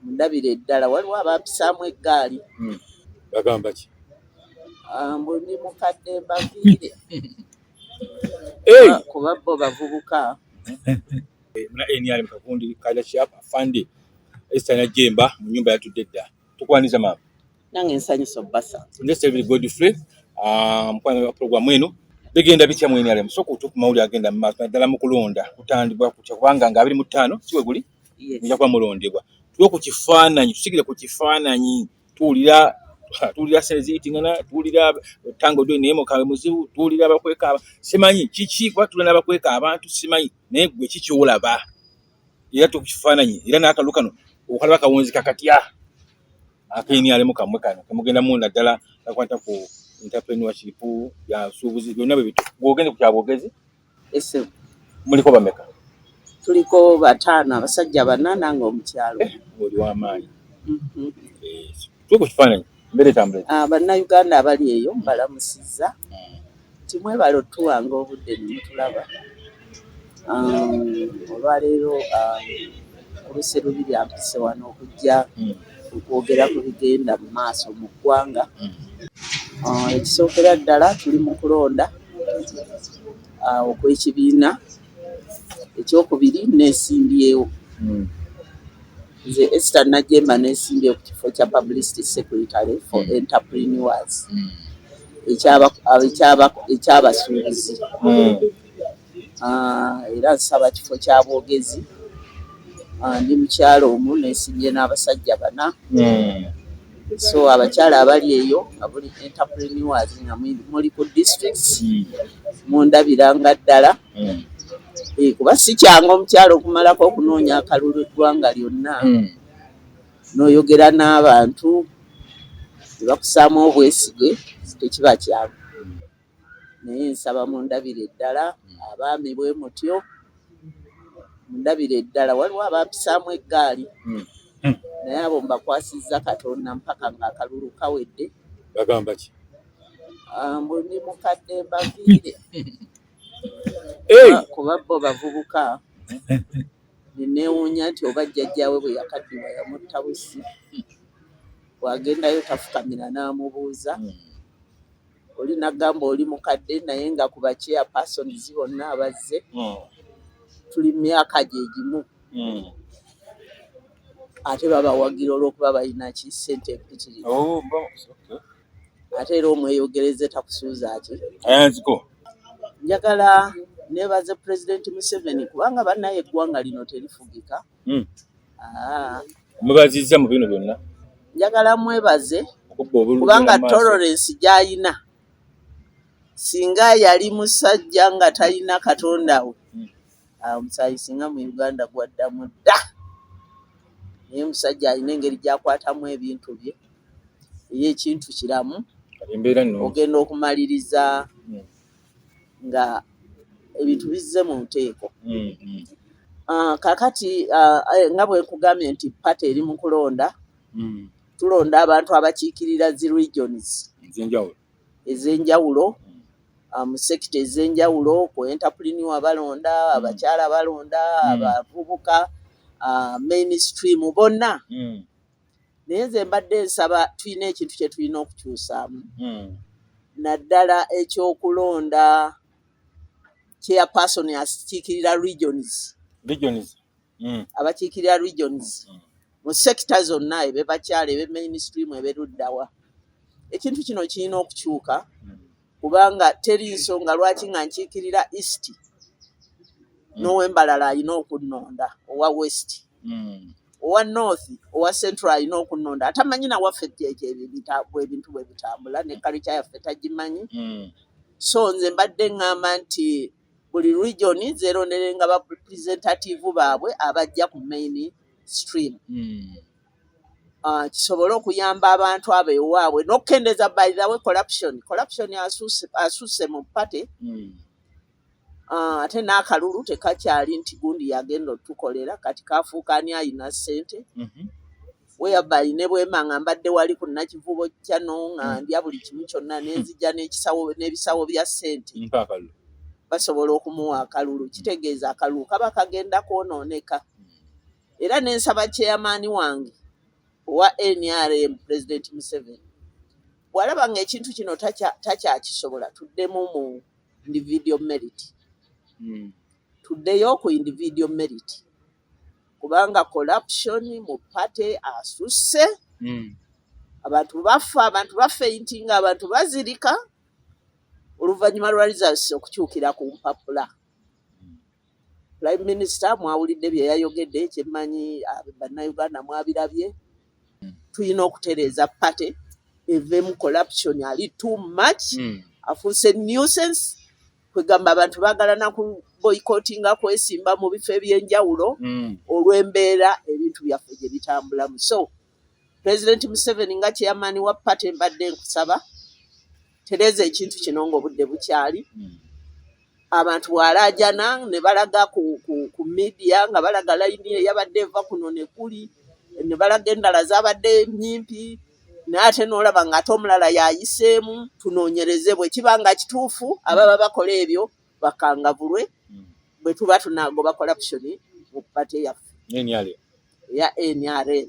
mundabire eddala waliwo abampisaamu eggaali hmm. bagamba ki ah, mbu ndi mukadde mbaviire ah, kuba bo bavubuka eh, muna nrm kagundi kaja shap afande esitana jemba mu nyumba yatudde dda tukwaniza maama nange nsanyusa obbasa ngesebiri godfrey ah, mukwano wa programu eno bigenda bitya mu nrm soka otuuku mawuli agenda mu maaso naddala mu kulonda kutandibwa kutya kubanga nga abiri mu ttaano siwe guli mujja kuba mulondebwa tuwe ku kifaananyi tusigire ku kifaananyi tuwulira tuwulira sente ziyitingana tuwulira tango dwe naye mukawe muzibu tuwulira abakweka simanyi kiki kuba tulina abakweka abantu simanyi naye gwe kikiwulaba era tuwe ku kifaananyi era n'akalu kano okalaba kawunzika katya akeni alimu kamwe kano kemugenda mu naddala kakwata ku entrepreneur kiripu byasuubuzi byonna bwe bitu bwogende ku kyabwogezi ese muliko bameka tuliko batano abasajja bana nange omukyalo eh, oli wamaanyi mhm. eh, tuko kifaananyi mbere tambule ah, bannayuganda abali eyo mbalamusiza hmm. timwebala otuwanga obudde nemutulaba um, olwaleero um, olusi lubiri ampise wano okujja hmm. okwogera ku bigenda mu maaso mu ggwanga. Uh, ekisookera ddala tuli mu kulonda uh, okw'ekibiina ekyokubiri nesimbyewo hmm. nze Esther Najemba nesimbyewo ku kifo kya publicity secretary for hmm. entrepreneurs hmm. ekyabasuubuzi era nsaba kifo kya bwogezi. Ndi mukyala omu nesimye n'abasajja bana so abakyala abali eyo nga buli entrepreneurs nga muli ku districts hmm. mundabira nga ddala hmm. eh, kuba si kyangu omukyala okumalako okunoonya akalulu eggwanga lyonna hmm. n'oyogera n'abantu tebakusaamu obwesige tekiba kyangu. naye nsaba mundabire eddala hmm. abaami bwe mutyo mundabire eddala waliwo abampisaamu eggaali hmm. Hmm. naye abo mbakwasizza katonda mpaka ngaakalulu kawedde bagamba ki ah, mbu ndi mukadde mbaviire ah, kuba bo bavubuka neneewuunya nti oba jjajjaawe bwe yakaddiwa yamutta busi bwagendayo tafukamira n'amubuuza oli nagamba oli mukadde naye nga ku ba chairpersons bonna abazze mm. tuli myaka gye gimu mm. ate babawagira olwokuba balina ki sente empitirivu oh, ate era omweyogereze takusuuza ki njagala nebaze pulezidenti museveni kubanga bannaye eggwanga lino terifugika Hmm. Ah. Mwebaziza mu bino byonna. Njagala mwebaze kubanga tolerance gy'alina singa yali musajja nga talina katonda we hmm. ah, omusaayi singa mu uganda gwaddamu dda naye omusajja alina engeri gyakwatamu ebintu bye eyo ekintu kiramu ogenda okumaliriza hmm. nga ebintu bizze mu nteeko mm, mm. Ah, kakati ah, eh, nga bwe nkugambye nti pate eri mu kulonda mm. tulonda abantu abakiikirira zi regions ez'enjawulo ah, mu sekita ez'enjawulo ku entapuliniwa balonda abakyala balonda abavubuka mainstream bonna naye nze mbadde nsaba tulina ekintu kye tulina okukyusaamu hmm. naddala ekyokulonda chairperson akikiikirira regions regions hmm. abakiikirira regions hmm. mu sekita zonna ebe bakyala ebe mainstream ebe luddawa ekintu kino kirina okukyuka kubanga teri nsonga lwaki nga nkiikirira east mm. nowembalala alina okunnonda owa west mm. owa north owa central alina okunnonda atamanyi nawaffe bwebintu bwe bitambula ne kalica yaffe tagimanyi mm. so nze mbadde ŋŋamba nti buli region zeeronderenga ba presentative baabwe abajja ku main stream mm. uh, kisobole okuyamba abantu abo ewaabwe n'okukendeeza bairawe corruption corruption asuuse mu pate hmm. uh, ate n'akalulu tekakyali nti gundi yagenda otukolera kati kafuuka ani alina ssente mm -hmm. weyabali ne bwema nga mbadde wali ku nakivubo kyano nga hmm. ndya buli kimu kyonna nenzija n'ekisawo n'ebisawo bya ssente basobola okumuwa akalulu kitegeeza akalulu kaba kagenda kwonooneka era ne nsaba kyeyamaani wange owa nrm president museveni bwalaba nga ekintu kino takyakisobola tuddemu mu individual merit hmm. tuddeyo ku individual merit kubanga corruption mu party asusse hmm. abantu bafa abantu bafa enti nga abantu bazirika oluvannyuma lwa results okukyukira ku mpapula Prime Minister mwawulidde bye yayogedde, kyemmanyi ah, bannayuganda mwabirabye. Hmm. Tulina okutereeza pate evemu corruption ali too much hmm. afuuse nuisance kwegamba abantu baagala naku boycottinga kwesimba mu bifo ebyenjawulo hmm. olw'embeera ebintu byaffe gye bitambulamu so pulezidenti museveni nga chairman wa party mbadde nkusaba tereeza ekintu kino ngaobudde bukyali hmm. abantu bwalaajana ne balaga ku, ku, ku media nga balaga layini eyabadde eva kuno nekuli ne balaga endala zabadde nyimpi naye ate nolaba nga ate omulala yayiseemu tunoonyereze bwe kiba nga kituufu ababa bakola ebyo bakangavulwe hmm. bwe tuba tunagoba corruption mu pate yaffe eya nrm